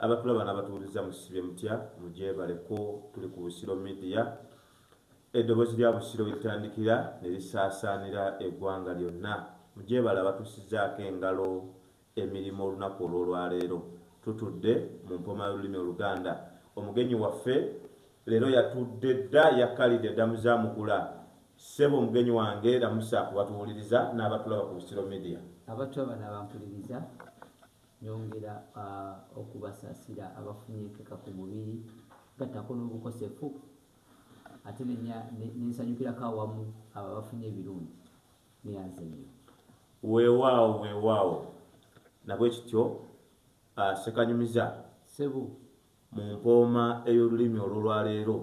Abatulaba nabatuwuliza musibye mutya mugyebale ko tuli ku Busiro media edobozi lya Busiro welitandikira nelisasaanira egwanga lyonna mugyebale abatusizaako engalo emirimu olunaku olwolwaleero tutudde mu mpoma yolulimi oluganda omugenyi waffe leero yatudde dda yakalidde dda muzamukula sebo omugenyi wange lamusa kubatuwuliriza nabatulaba ku Busiro media abatulaba nabampuliriza Nyongera okubasasira abafunye empeka ku mubiri gattako n'obukosefu ate nensanyukirako awamu abo abafunye ebirungi neyanze nnyo. Weewaawo weewaawo nabwe kityo Ssekanyumiza. Ssebo. Mu mpooma ey'olulimi olw'olwaleero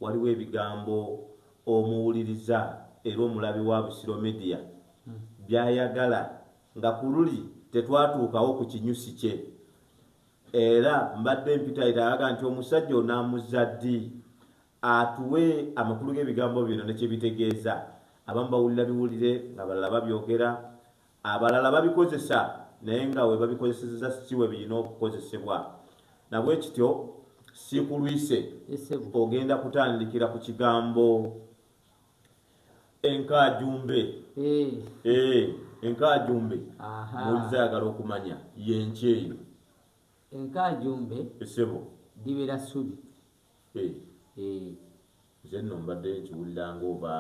Waliwo ebigambo omuwuliriza era omulabi wa Busiro Media by'ayagala nga ku luli tetwatuukawo ku kinyusi kye era mbadde mpitayita aga nti omusajja onaamuzza ddi atuwe amakulu g'ebigambo bino ne kye bitegeeza. Abamu bawulira biwulire ng'abalala babyogera Abalala babikozesa naye nga we babikozesezza si we birina okukozesebwa. Na bwe kityo, sikulwise ogenda kutandikira ku kigambo enkaajumbe. Eh. Eh, enkaajumbe muwulize ayagala okumanya y'enki eyo. Enkaajumbe esebo libeera ssubi. Eh. Nze nno mbadde nkiwulira ng'oba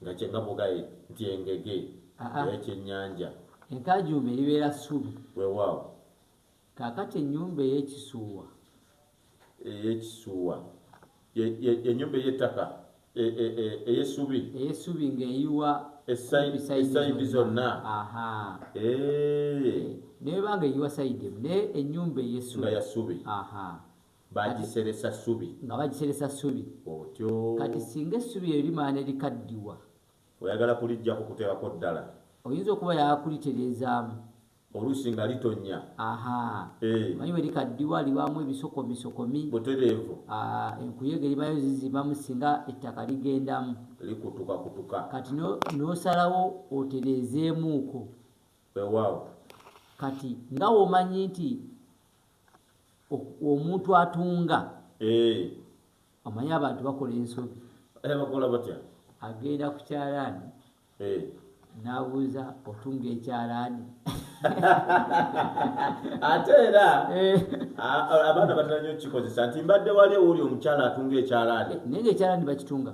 Nga kye nga mugaye nti engege Aa. ey'ekyennyanja. Enkaajuumba eribeera ssubi. Weewaawo. Kaakati ennyumba ey'ekisuuwa. Ey'ekisuuwa. Ye, ye, y'ennyumba ey'ettaka, e, e, e, ey'essubi. Ey'essubi ng'eyiwa Essa- ku sayidi essayidi zonna. zonna. Aha. Eee, Eh, N'eba nga eyiwa sayidi emu, naye ennyumba ey'essubi. nga ya ssubi. Aha. Baagiseresa ssubi. Nga bagiseresa ssubi. Otyo. Kati singa essubi eryo limala ne likaddiwa. Oyagala kuliggyako kuteekako ddala. Oyinza okuba oyagala kulitereezaamu. Oluusi nga litonnya. Aha. Eh. Omanyi bwe likaddiwa libaamu ebisokomisokomi. Butereevu. Ah, enkuyege libaayo zizibamu singa ettaka ligendamu. Likutukakutuka. Kati no, n'osalawo otereezeemuuko. Wewaawo. Kati nga womanyi nti omuntu atunga omanyi abantu bakola ensobi bakola batya agenda ku kyalaani n'abuuza otunga ekyalaani ate era eh. abaana batera nyo okukikozesa nti mbadde wali owuli omukyala atunga ekyalaani naye ngaekyalaani bakitunga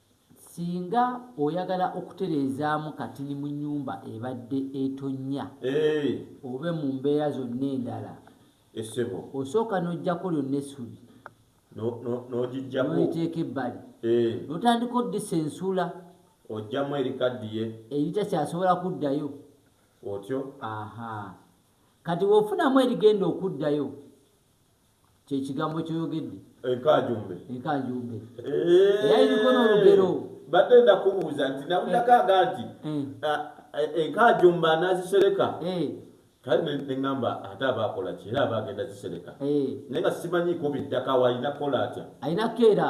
Singa oyagala okutereezaamu katini mu nnyumba ebadde etonnya oba mu mbeera zonna endala, osooka n'oggyako lyonna essubi n'oliteeka ebbali n'otandika oddisa ensula ojjamu erikaddiye eritakyasobola kuddayo otyo. Aha. Kati w'ofunamu erigenda okuddayo. Kye kigambo ky'oyogedde. Enkanjumbe. Enkanjumbe. Eh. Era iriko n'olugero. Mbadde ndakubuuza nti nawulirako eh. aga nti eh. enkanjumbe anaazisereka. Kale ne ŋŋamba ate aba akola ki era aba agenda zisereka. Naye nga simanyiiko biddako awo alina kukola atya. Alina keera.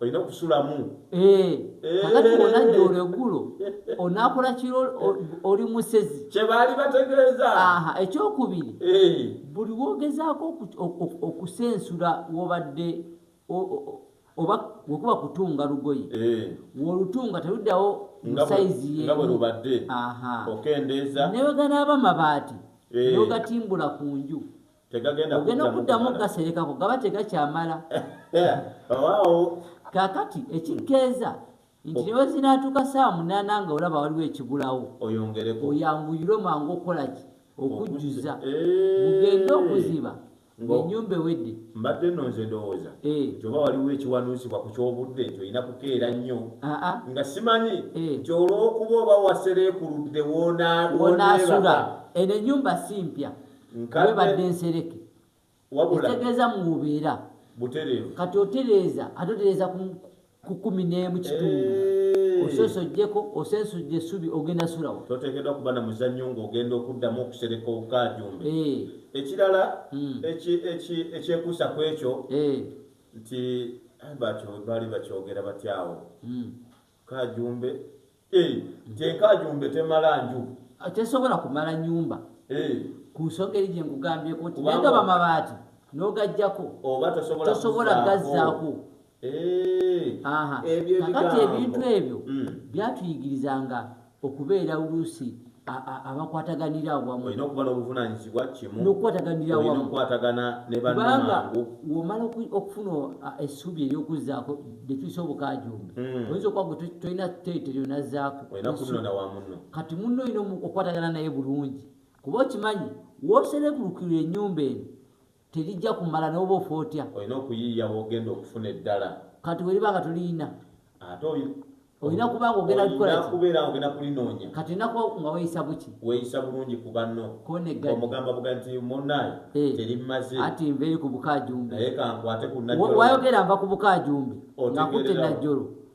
olina okusulamu eh, eh. kakati onajja olwegulo onakola kiro oli musezi kyebaali bategeeza ekyokubiri eh. buli wogezaako okusensula wobadde oba wekuba kutunga lugoye wolutunga teruddawo musaizi yewebadde okendeeza neweganaaba mabaati nogatimbula ku nju tegagenda ogenda okuddamu okugaserekako gaba tegakyamala kakati ekikeeza nti newe zinaatuuka saa munaana nga olaba waliwo ekigulawo oyanguyirwe mangu okukolaki okujjuza mugende eh. okuziba enyumba ewedde mbadde no nze ndowooza eh. nti oba waliwo ekiwanuusibwa ku kyobudde nti olina kukeera nnyo ah, ah. nga simanyi eh. nti olwokuba oba wasereekuludde wonaasula eno enyumba si mpya webadde nsereke ekitegeeza mububeera kati otereeza ate otereeza ku kumi n'emu kitundu eh. osoose ojjeko osensudde esubi ogenda sulawo toteekeddwa kuba na muzannyo ng'ogenda okuddamu okusereka okukajumbe eh. ekirala hmm. ekyekuusa ku ekyo eh. nti baali bakyogera batyawo hmm. kajumbe eh, nti enkajumbe temala nju tesobola kumala nyumba eh. ku nsonga eri gye nkugambyeko nti negaba mabaati n'ogajjako tosobola gazzaako eh. kakati ebintu ebyo hmm. byatuyigirizanga okubeera oluusi abakwataganira awamu olina okuba n'obuvunanyizibwa kimu n'okukwataganira awamu okukwatagana ne bannobanga womala okufuna essuubi ery'okuzzaako ne tuyisa obukaajumbi hmm. oyinza okuba gwe tolina teete lyonazzaako olina kutunona wa munno kati munno olina okukwatagana naye bulungi kuba okimanyi wooserebulukirwa ennyumba eno Terijja kumala n'oba ofa otya. Olina okuyiiya w'ogenda okufuna eddala. Kati weriba nga tolirina. Ate oyo. Olina kuba nga ogenda kukola ki? Olina kubeera nga ogenda kulinoonya. Kati olina kuba nga weeyisa buki? Weeyisa bulungi ku banno. Koneggani. Omugamba buga nti munnaye eh. terimmaze. Ati nva eri ku bukaajumbe. Naye kankwate ku Najjolo. Wayogera nva ku bukaajumbe. Otegeerera. Nga kutte Najjolo.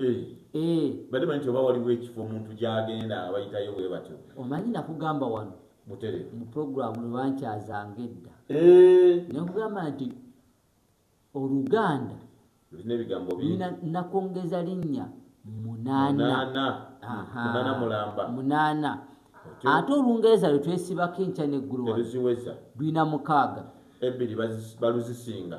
Eh, eh. bade manyi oba waliwo ekifo omuntu gyagenda abayitayo bwe batyo omanyi nakugamba wano mutere mu programu lwebankyazanga edda eh. nakugamba nti oluganda lulina ebigambo bina nakongeza linnya munaanamunaana ate olungereza lwetwesibako enkya neggulo lulina mukaaga ebbiri baluzisinga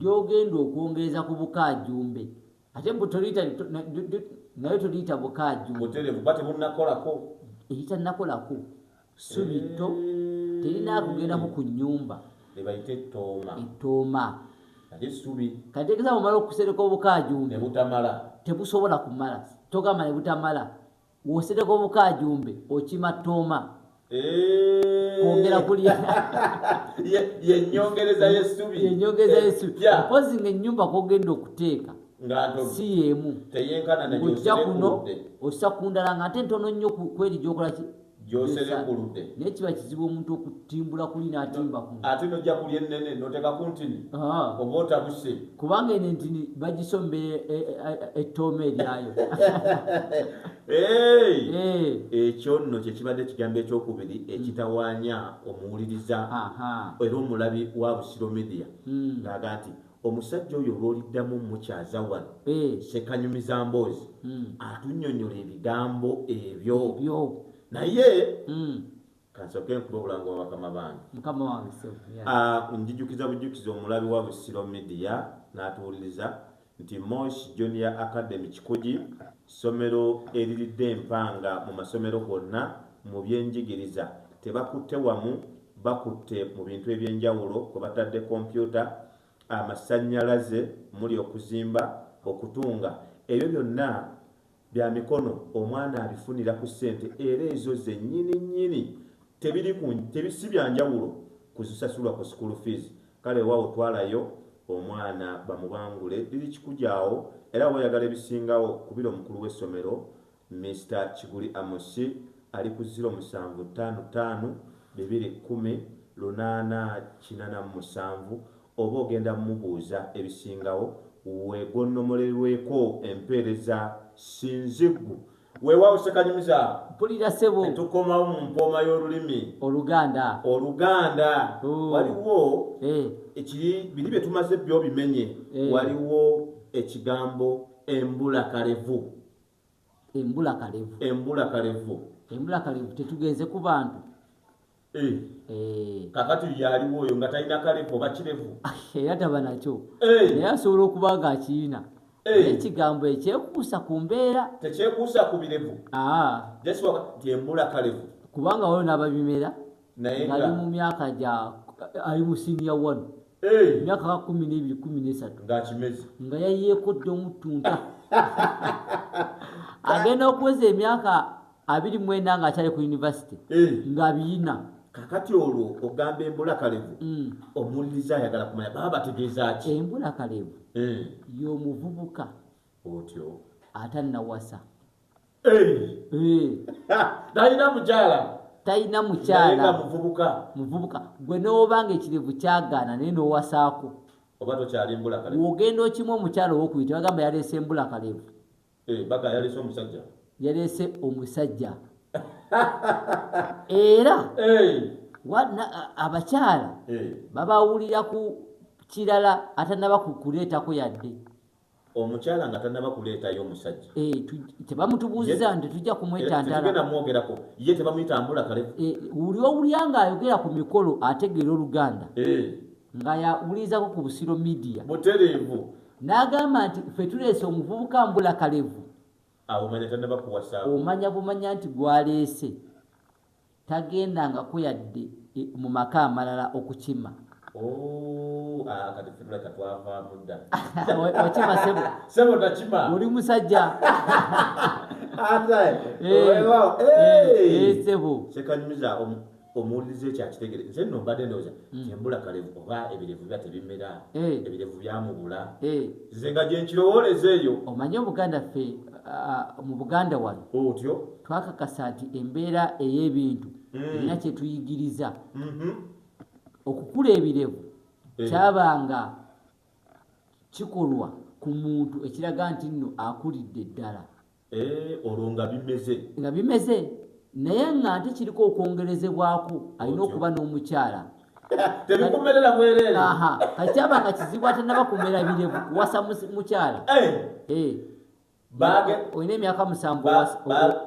lyogenda okwongereza ku bukaajumbe ate mbu toliyita li- to- na- li- li- nayo toliyita bukaajumbe buterevu kuba tebunnakolako eritannakolako ssubi tto terina kugendako ku nnyumba lyebayita ettooma ettooma ate essubi kategeeza bwomala okusereka ne obukaajumbe butamala tebusobola kumala togamba ne butamala Wosereko bukajumbe okima toma. Eh. Kwongera kulya. Ye nyongereza yesubi. Ye nyongereza yesubi. Yeah. Mpozi nge nyumba kogenda okuteeka. Ngato. Si yemu. Teyenkana na yosereko. Ojja kuno osakundala ngate ntono nnyo kweli gyokola ki. gyoserekuludde naye kiba kizibu omuntu okutimbula kuli natimba ku ate nojja kulya ennene noteka ku ntini oba otabuse kubanga eno entini bagisombe ettooma e, e, e, eryayo ekyo nno kyekibadde ekigambo ekyokubiri hmm. ekitawaanya omuwuliriza era omulabi wa busiro media hmm. ngaaga nti Omusajja oyo lwoliddamu mukyaza wano sekanyumiza mboozi hmm. atunyonyola ebigambo ebyo naye hmm. kansoke nkuba obulanga wa bakama bange ah, njijukiza bujukiza omulabi wa busiro media n'atuwuliriza nti mosh junior academy kikugi Ssomero eriridde empanga mu masomero gonna mu byenjigiriza tebakutte wamu, bakutte mu bintu eby'enjawulo kwe batadde kompyuta, amasannyalaze omuli okuzimba, okutunga ebyo byonna bya mikono omwana abifunira ku ssente era ezo zennyininyini tebiri ku si bya njawulo ku zisasulwa ku school fees kale weewaawo twalayo Omwana bamubangule biri kikujaawo era weyagala ebisingawo kubira omukulu w'essomero Mister Kiguli Amos ali ku ziro musanvu ttaano ttaano bibiri kkumi lunaana kinana mu musanvu oba ogenda mmubuuza ebisingawo wegonnomolerweko empeereza sinziggu weewaawo ssekanyumiza mpulira sebo ne tukomawo mu mpooma y'olulimi oluganda oluganda Ooh. waliwo Eh, ekiri biri bye tumaze byo bimenye Eh. waliwo ekigambo embula kalevu embula kalevu embula kalevu embula kalevu tetugenze ku bantu Eh. Eh. kakati yaliwo oyo nga talina kalevu oba kirevu era taba nakyo eh. naye asobola okuba nga akiina ekigambo ekyekuusa ku mbeera tekyekuusa ku birevu ah. nti embula kalevu kubanga waliwo n'ababimera ali mu myaka gya ali mu siniya wanu emyaka ka kumi n'ebiri kumi n'esatu nga yayeekodde omutunta agenda okuweza emyaka abiri mwenda nga akyali ku yunivasite eh. nga biyina kakati olwo ogamba embula kalevu mm. omuwuliriza ayagala kumanya baba bategeeza ki embula kalevu eh. y'omuvubuka otyo atannawasa eh. talina mukyala talina mukyala muvubuka muvubuka gwe n'oba nga ekirevu kyagaana naye n'owasaako oba tokyali mbula kalevu wogenda okimu omukyala owokuyita bagamba yaleese mbula kalevu Eh, baka yalese omusajja yalese omusajja era eh. abakyala eh. babawulira ku kirala atanaba kukuleetako yadde omukyala nga tanaba kuleetayo omusajja tebamutubuuziza nti tujja kumwetantalamwogerako ye tebamuyitambula kale wuli owulya nga ayogera ku mikolo ategeera oluganda nga yawulirizako ku busiro midia butereevu n'agamba nti ffe tuleese omuvubuka mbula kalevu omanya bumanya nti gwaleese tagenda nga kuyadde e, mu maka amalala okukima oh, ah, oli musajja eh, eh, eh, sebo omuwuliriza ekyo akitegere nze nno mbadde ndowooza hmm. kyembula kalevu oba ebirevu biba tebimera eh. ebirevu byamubula eh. nze nga gyenkirowooleza eyo omanyi obuganda ffe mu buganda wano otyo twakakasa nti embeera ey'ebintu hmm. erina kyetuyigiriza mm-hmm. okukula ebirevu eh. kyabanga kikolwa ku muntu ekiraga nti nno akulidde ddala Eh, olwo nga bimeze nga bimeze naye nga nte kiriko okwongerezebwaku alina okuba n'omukyala tebikumerera bwereere kakyaba nga kizibu atanaba kumera birevu kuwasa mukyala eh. eh. olina emyaka musanvu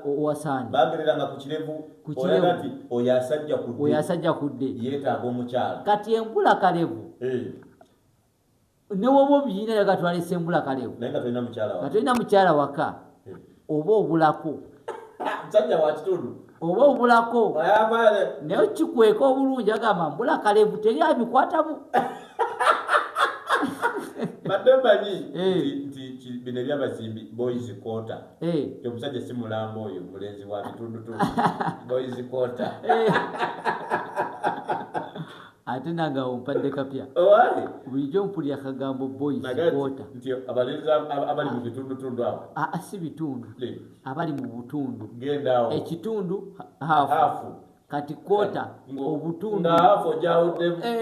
owasaani bagereranga ku kirevu kukirewti oyo asajja kudde oyo asajja kudde yeetaaga omukyala kati enkula kalevu newoba obiyina naye gatwala esembula kalewo nga tolina mukyala waka eh. oba obulako oba obulako naye kikweka obulungi agamba mbula kalevu teri abikwatamu badde manyi eh. nti bino ebyabazimbi boys kota eh. omusajja si mulamba oyo mulenzi wa bitundutundu boys kota ate nange awo mpadde kapya bulijjo mpulira akagambo boyiskwota abali mu bitundutundu awo ah, ah, si bitundu abali mu butundu ekitundu hafu kati kwota obutundu eh.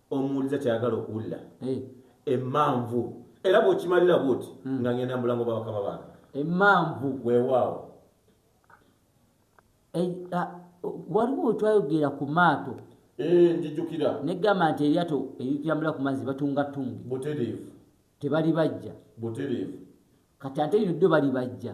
omuwuliza kyayagala okuwulira emanvu era bwokimalira bwoti hmm. nga ngenda mubulango bwabakama bange emanvu wewaawo eh, ah, waliwo wetwayogera ku maato eh, njijukira negamba nti eryato eritambula ku mazzi batungatungi butereevu tebali bajja butereevu kati ate lino ddo bali bajja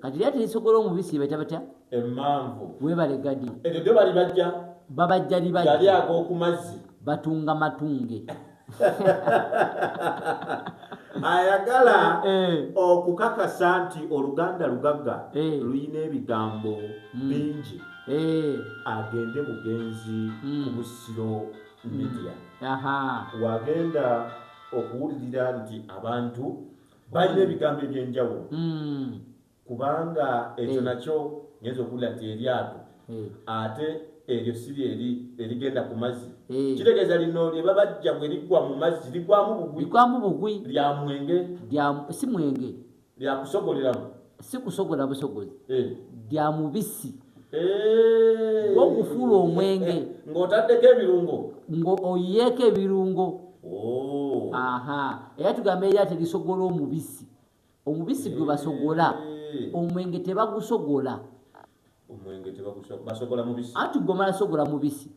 kati lya telisogola omubisi baita batya emanvu webale gadi ekyo byo bali bajja babajja libajja yali agoku mazzi batunga matunge ayagala eh. okukakasa nti oluganda lugagga eh. luyina ebigambo hmm. bingi eh. agende bugenzi hmm. ku busiro hmm. media wagenda okuwulirira nti abantu balina ebigambo ebyenjawulo hmm. kubanga ekyo eh. nakyo ngenza okuwulira nti eryato eh. ate eryo siri eri erigenda ku mazzi eh. kitegeeza lino lye babajja bwe liggwa mu mazzi ligwamu bugwi ligwamu bugwi lya mwenge lya si mwenge lya kusogoleramu si kusogola busogozi lya mubisi ogufuula omwenge ng'otaddeko ebirungo ng'oyiyeeko ebirungo oh. aha era tugamba era terisogola omubisi omubisi gwe basogola omwenge tebagusogola anti gwomala sogola mubisi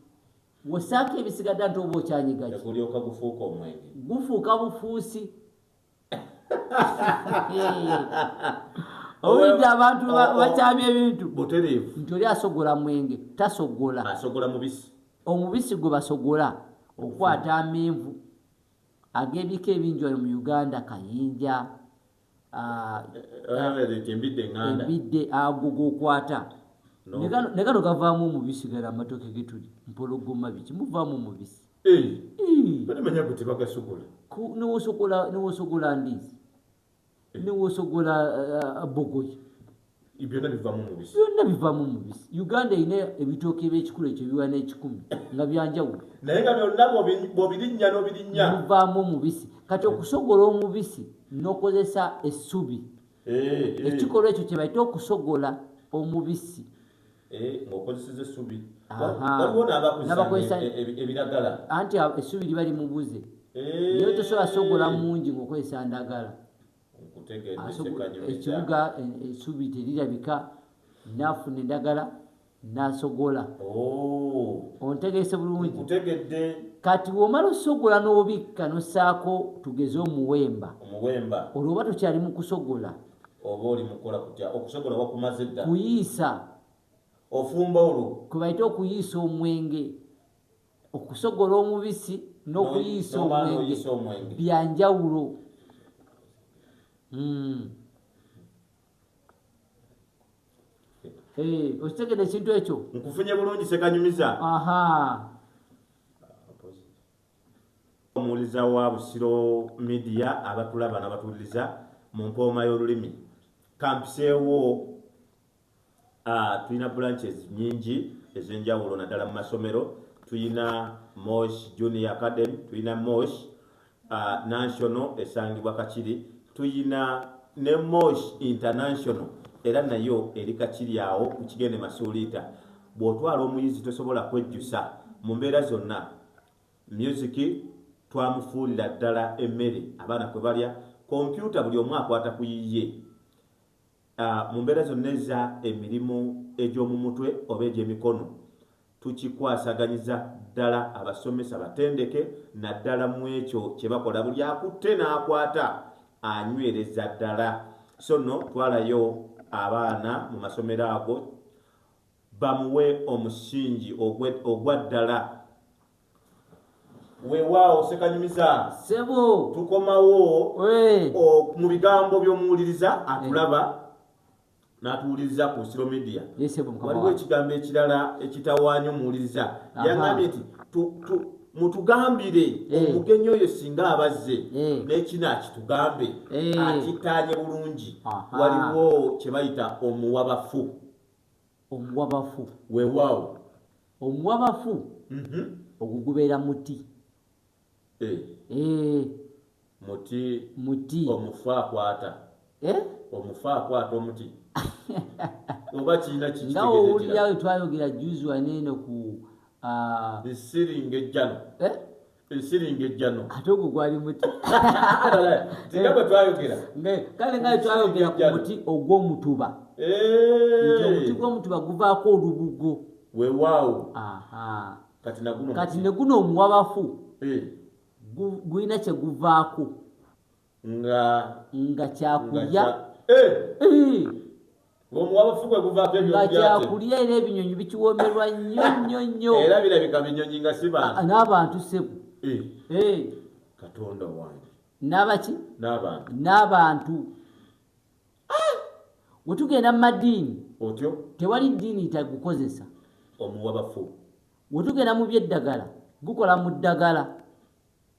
wosaako ebisigadde nti oba okyanyigagufuuka bufuusi owulidde abantu bakyamya ebintu nti oli asogola mwenge tasogola omubisi gwe basogola okukwata amenvu ag'ebika ebingi wano mu uganda kayinja ah, embidde ago gokwata negano gavaamu omubisi gala amatoke getuli mpologoma biki muvaamu omubisi balimanya gwe tebagasobola newosogola newosogola ndizi newosogola bogoyi byonna bivamu mubisi byonna bivamu mubisi uganda erina ebitooka ebyekikulu ekyo biwa n'ekikumi nga byanjawulo naye nga byonna bwobirinnya n'obirinnya bivaamu omubisi kati okusogola omubisi n'okozesa essubi ekikolwa ekyo kyebaita okusogola omubisi Eh, ng'okozeseza essubi waliwo n'abakozesa e- e- ebiragala anti essubi liba limubuze eh. naye tosobola sogola mungi ng'okozesa ndagala ekibuga eh, essubi terirabika naafuna endagala nasogola oh. ontegese bulungi kati womala osogola n'obikka nosaako tugeze omuwemba olwoba tokyali mu kusogola oba oli mukola kutya okusogola wakumaze dda kuyiisa ofumba olwo kwebaite okuyiisa omwenge okusogola omubisi n'okuyiisa omwenge byanjawulo hmm. eh, okitegede ekintu ekyo nkufunye bulungi sekanyumiza Omuwuliza wa Busiro Media abatulaba nabatuwuliriza mu mpooma y'olulimi kampiseewo tulina branches nyingi ez'enjawulo naddala mu masomero tulina Mosh Junior Academy tulina Mosh National esangibwa Kakiri tulina ne Mosh International era nayo eri Kakiri awo ku kigende Masuuliita bw'otwala omuyizi tosobola kwejjusa mu mbeera zonna Music twamufuulira ddala emmere abaana kwe balya, kompyuta buli omu akwata ku yiye. Mu mbeera zonna eza emirimu egy'omu mutwe oba egy'emikono tukikwasaganyiza ddala abasomesa batendeke naddala mu ekyo kye bakola buli akutte n'akwata anywereza ddala. So nno twalayo abaana mu masomero ago Bamuwe omusingi ogwe ogwa ddala. Wewaawo Ssekanyumiza Sebo. tukomawo Wee. o- mu bigambo by'omuwuliriza atulaba n'atuwuliriza ku Busiro Media. Ye sebo mukama Waliwo wange. ekigambo ekirala ekitawaanya omuwuliriza. Aha. Yangambye nti tu- tu- mutugambire Eh. omugenyi oyo singa abazze Eh. n'ekino akitugambe Eh. akitaanye bulungi. Aha. Waliwo kye bayita omuwabafu. Omuwabafu. Weewaawo. Omuwabafu ogwo gubeera muti. Eeh. Muti. Muti. Omufu akwata. Eh? Omufu akwata omuti. Oba kirina kiki nga owulira we twayogera juzi wano eno ku ah, nsiri ng'ejjano. Eh? esiringa ejjano ate ogwo gwali muti tinga bwe twayogera kale nga twayogera ku muti ogw'omutuba nti omuti gw'omutuba guvaako olubugo wewaawo kati ne guno omuwabafu gulina kye guvaako nga nga kyakulya eh! eh! nga kyakulya era ebinyonyi bikiwomerwa nnyo nnyo nnyo era birabika binyonyi nga si bantu ah, n'abantu sebo eh! katonda wange n'abaki n'abantu ah! we tugenda mu madiini otyo tewali ddiini itagukozesa omuwabafu we tugenda mu by'eddagala gukola mu ddagala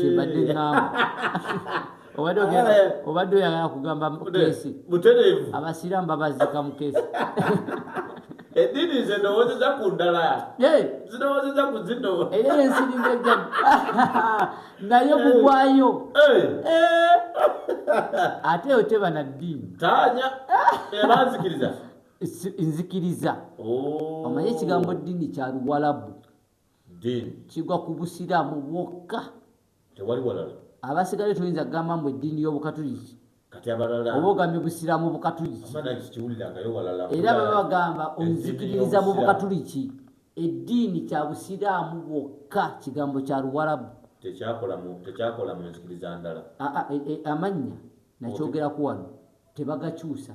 kyebadde ngamba obadde oyagala kugamba mukesi abasiramu babazika mukesi eddiini nze ndowoozeza ku ndala zirowoozeza ku zino era ensiringa ejja naye mugwayo ate eyo teba na ddiini tanya ebanzikiriza nzikiriza oh. omanye ekigambo ddiini kya luwalabu ddiini kigwa ku busiraamu bwokka tewali walala abasigale toyinza kugamba mbu eddiini y'obukatuliki kati abalala oba ogambye busiraamu bukatuliki kiwulirangayo walala era baba bagamba onzikiririza mu bukatuliki eddiini kya busiraamu bwokka kigambo kya luwarabu tekyakola mu nzikiriza ndala e, e, amannya nakyogeraku wano tebagakyusa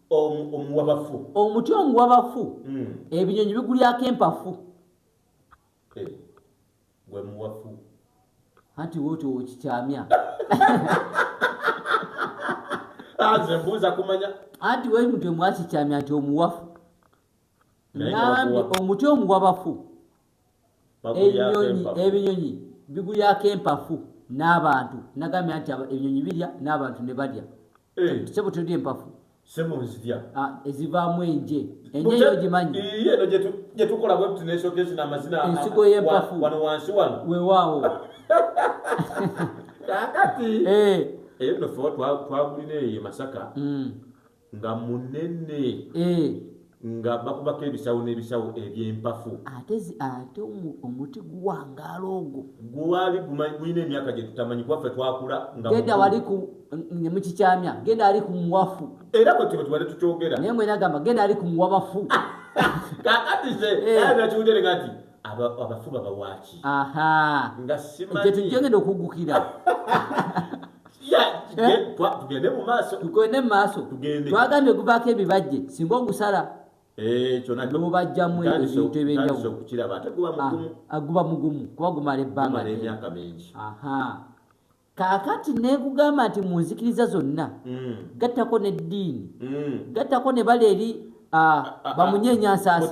omuwabafu omuti omuwabafu hmm. ebinyonyi bigulyako empafu eh, gwe muwafu anti woti okikyamya ah, nze mbuuza kumanya anti weri muti omwakikyamya nti omuwafu nambi omuti omuwabafu enyonyi ebinyonyi bigulyako empafu n'abantu nagambye nti ebinyonyi birya n'abantu ne balya Eh. sebo tulidde empafu sebo nzirya ah, ezivaamu enje enje eyo ogimanyi eno gye tukola bwebuti neshogezi n'amazina ensigo y'empafu wano wansi wano wewaawo kakati eh. eyo nno fe twagulina eyo masaka mm. nga munene eh. nga bakubako ebisawo n'ebisawo eby'empafu ate zi- ate omu- omuti guwangaala ogwo gwali guma- gulina emyaka gye tutamanyi kuba ffe twakula nga genda mukulu. wali ku ne mukikyamya genda ali ku muwafu era bwe tuba tubadde tukyogera naye mwena gamba genda ali ku muwabafu kakati ze Eh. era nakiwutereka nti abafu babawaaki nga simanyi gyetujjengedde okuggukira Eh? tugende mu maaso tugende mu maaso tugende twagambye guvaako ebibajje singa ogusala eh, kyonanobubajjamu ebintu ebyenjawuloaguba ah, mugumu kuba gumala ebbanga emyaka mingi kakati nekugamba nti mu nzikiriza zonna hmm. gattako n'eddiini hmm. gattako ne bala eri ah, ah, bamunyenyansaasi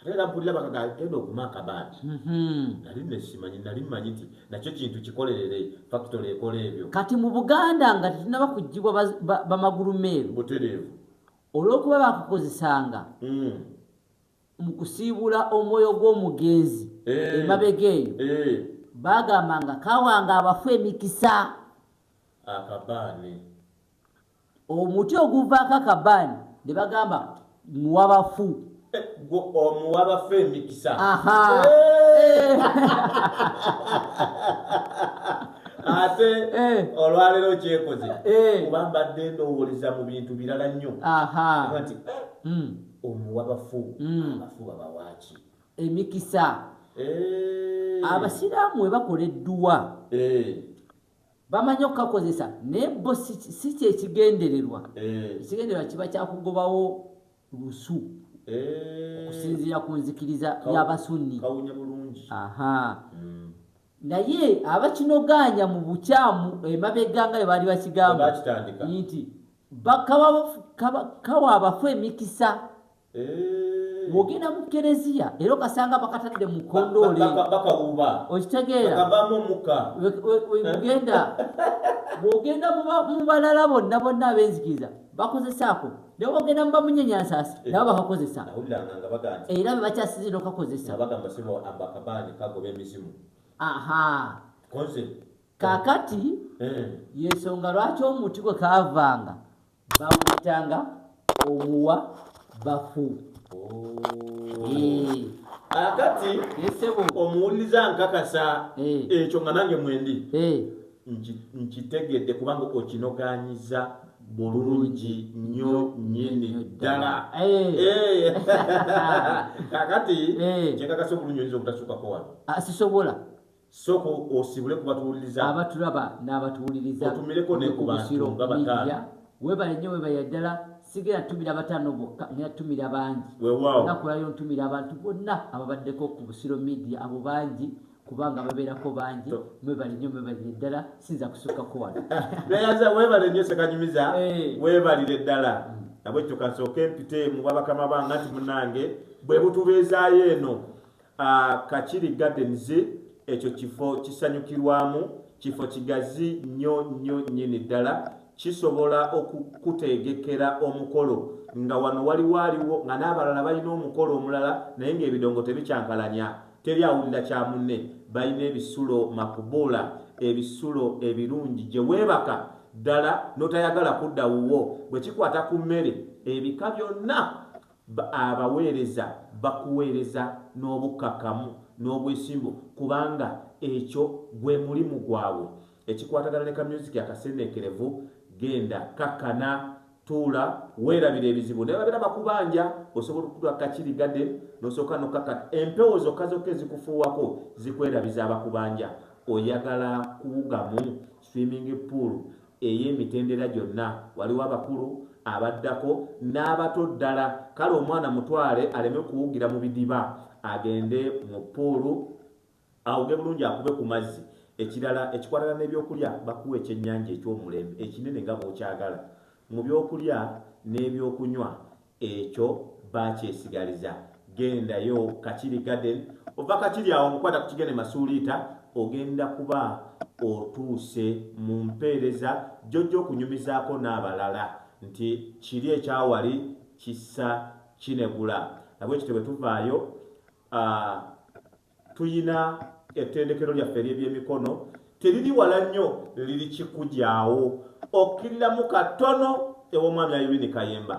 ate era mpulira bakaga genda okuma akabandi mhm. nali nesimanyi nali manyi nti nakyo kintu kikolerere fakitole ekola ebyo kati mu buganda nga tetunaba kugibwa bamagulu meeru butereevu olwokuba bakukozesanga mm. mu kusiibula omwoyo gw'omugenzi eh. emabega eyo eh. bagamba nga kawanga abafu emikisa akabaani omuti oguvaako akabaani ne bagamba muwabafu omuwabafu emikisa ate eh. olwaleero kyekoze eh. kuba mbadde ndowoleza mu bintu birala nnyo nti eh, hmm. omuwabafu hmm. abafu babawaki emikisa abasiraamu webakola edduwa bamanyi okukakozesa naye bo si kyekigendererwa eh. ekigendererwa kiba kyakugobawo lusu eh. okusinziira ku nzikiriza yabasunni hmm. naye abakinogaanya mu bukyamu emabega nga bebaali bakigamba nti kawa abafu emikisa bwogenda mu kereziya era okasanga bakatadde mu kondoole bakawuuba okitegeera kavamu omukka wegenda bwogenda mu balala bonna bonna abenzikiriza bakozesaako naye bwogenda mu bamunyenyansaasi eh. nabo bakakozesa era be bakyasize nokakozesa aha kakati eh. yensonga lwaki omuti gwe kavanga bamuyitanga omuwa bafu akati omuwuliriza nkakasa ekyo nga nange mwendi nkitegedde kubanga okinoganyiza bulungi nnyo nyini ddala kakati kyekakasa obulungi oyinza obutasukako wano sisobola sooka osibule ku batuwuliriza abatulaba n'abatuwuliriza otumireko ne ku bantu nga bataano webale nnyo webale ddala sigera ntumira bataano bokka naye ntumira bangi nakulayo ntumira abantu bonna ababaddeko ku busiro media abo bangi kubanga babeerako bangi mwebale nnyo mwebale ddala sinza kusukkako wano nayaza webale nnyo sekanyumiza eh. webalire ddala mm. nabwekyo kansooke mpite mu bwabakama banga nti munange bwe butubeezaayo eno Kakiri Gardens ekyo kifo kisanyukirwamu, kifo kigazi nnyo nnyo nnyini ddala, kisobola okukuteegekera omukolo nga wano waliwo aliwo nga n'abalala balina omukolo omulala naye ng'ebidongo tebikyankalanya, teri awulira kya munne, balina ebisulo makubuula, ebisulo ebirungi gye weebaka ddala n'otayagala kudda wuwo. Bwe kikwata ku mmere, ebika byonna B Abaweereza bakuweereza n'obukkakkamu n'obwesimbu kubanga ekyo gwe mulimu gwabwe. Ekikwatagana ne kamyuziki akaseeneekerevu, Genda, kakkana, tuula, weerabire ebizibu. Ne bwe babeera bakubanja, osobola okutuula ku kakiri, garden, n'osooka n'okkakkana. Empewo zokka zokka ezikufuuwako zikwerabiza abakubanja. Oyagala kuwugamu Swimming pool ey'emitendera gyonna. Waliwo abakulu, abaddako, n'abato ddala. Kale omwana mutwale aleme kuwugira mu bidiba. Agende mu ppuulu awuge bulungi akube ku mazzi. Ekirala ekikwatagana n'ebyokulya bakuwa ekyennyanja eky'omulembe ekinene nga bw'okyagala. Mu byokulya n'ebyokunywa. Ekyo bakyesigaliza gendayo kakiri garden ova kakiri awo mukwata kukigende masuuliita ogenda kuba otuuse mu mpeereza gyojja okunyumizaako n'abalala nti kiri ekyawali kissa kinegula nabwekityo bwe tuvaayo uh, Tuyina ettendekero lyaffe ery'ebyemikono teriri wala nnyo liri kikugyawo okkiriramu katono ew'omwami Irene Kayemba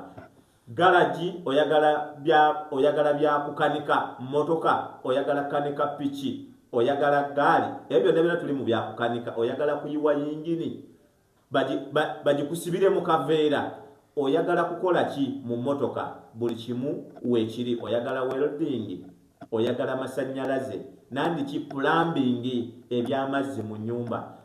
galagi oyagala bya oyagala bya kukanika mmotoka oyagala kanika piki oyagala gaali ebyo byonna byonna tuli mu bya kukanika oyagala kuyiwa yingini bagikusibire mu kaveera oyagala kukola ki mu motoka buli kimu wekiri oyagala welding oyagala masanyalaze nandiki plumbing ebyamazzi mu nyumba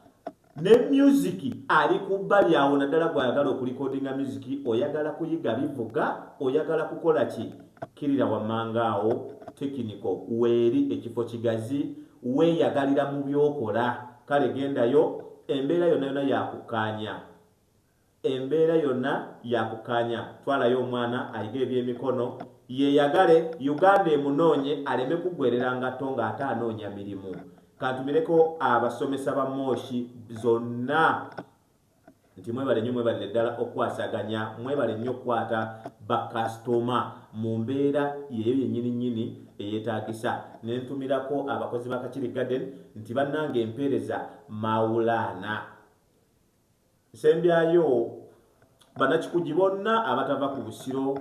ne music ali kubbali awo naddala gwayagala okulikodinga music oyagala kuyiga bivuga oyagala kukola ki kirira wamanga awo tekiniko weeri ekifo kigazi weyagalira mu byokola Kale gendayo, embeera yonna yonna ya kukkaanya. Embeera yonna ya kukkaanya. Twalayo omwana ayige eby'emikono, yeeyagale, Uganda emunoonye aleme kuggweerera ngatto ng'ate anoonya mirimu. Kantumireko abasomesa ba Moshi zonna. nti mwebale nnyo mwebalire ddala okukwasaganya mwebale nnyo okukwata bakasitoma mu mbeera yeyo yennyini nnyini eyetaagisa ne ntumirako abakozi ba kakiri garden nti bannanga empeereza mawulaana nsembyayo banakikugi bonna abatava ku busiro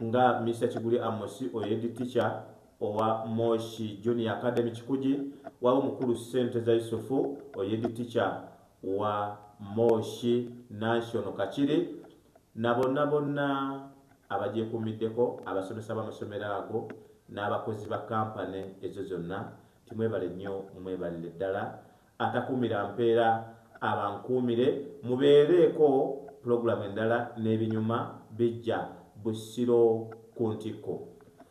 nga mr kiguli amosi oyedi ticha owa moshi junior academy kikugi waba omukulu ssente za yusufu oyedi ticha wa Moshi National Kakiri na bonna bonna abagyekuumiddeko, abasomesa b'amasomero ago n'abakozi ba Kampani ezo zonna nti mwebale nnyo mwebalire ddala, atakuumira mpeera abankuumire, mubeereeko pulogulaamu endala n'ebinyuma bijja Busiro ku ntikko.